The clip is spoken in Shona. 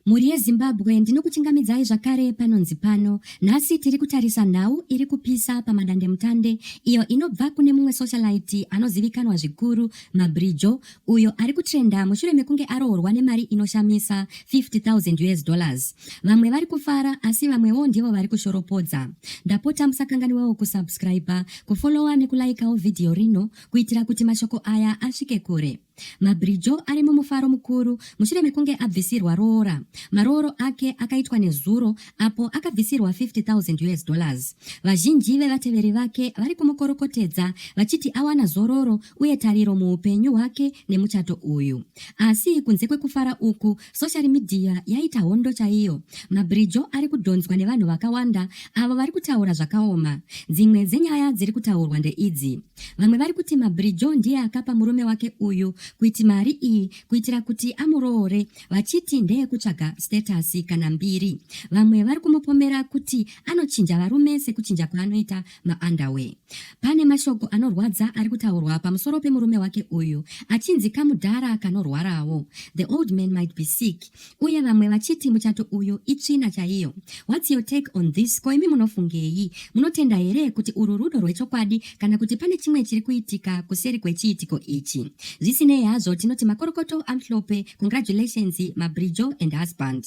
Mhuri yeZimbabwe ndinokuchingamidzai zvakare panonzi pano. Nhasi tiri kutarisa nhau iri kupisa pamadandemutande iyo inobva kune mumwe socialite anozivikanwa zvikuru Mabrijo uyo ari kutrenda mushure mekunge aroorwa nemari inoshamisa 50,000 US dollars. Vamwe vari kufara asi vamwewo ndivo vari kushoropodza. Ndapota musakanganiwawo kusubscriber, kufollowa nekulaikawo vhidhiyo rino kuitira kuti mashoko aya asvike kure. Mabhirijo ari mumufaro mukuru mushure mekunge abvisirwa roora. Marooro ake akaitwa nezuro apo akabvisirwa 50,000 us dollars. Vazhinji vevateveri vake vari kumukorokotedza vachiti awana zororo uye tariro muupenyu hwake nemuchato uyu. Asi kunze kwekufara uku, soshari midhiya yaita hondo chaiyo. Mabhirijo ari kudhonzwa nevanhu vakawanda avo vari kutaura zvakaoma. Dzimwe dzenyaya dziri kutaurwa ndeidzi. Vamwe vari kuti Mabridjo ndiye akapa murume wake uyu kuiti mari iyi kuitira kuti amuroore vachiti ndeyekutsvaga status kana mbiri. Vamwe vari kumupomera kuti anochinja varume sekuchinja kwaanoita maunderwear. Pane mashoko anorwadza ari kutaurwa pamusoro pemurume wake uyu achinzi kamudhara kanorwarawo. The old man might be sick. uye vamwe vachiti muchato uyu itsvina chaiyo whats your take on this ko imi munofungei munotenda here kuti urwu rudo rwechokwadi kana kuti pane chimwe chiri kuitika kuseri kwechiitiko ichi zvisinei hazvo tinoti makorokoto amhlope congratulations mabrijo and husband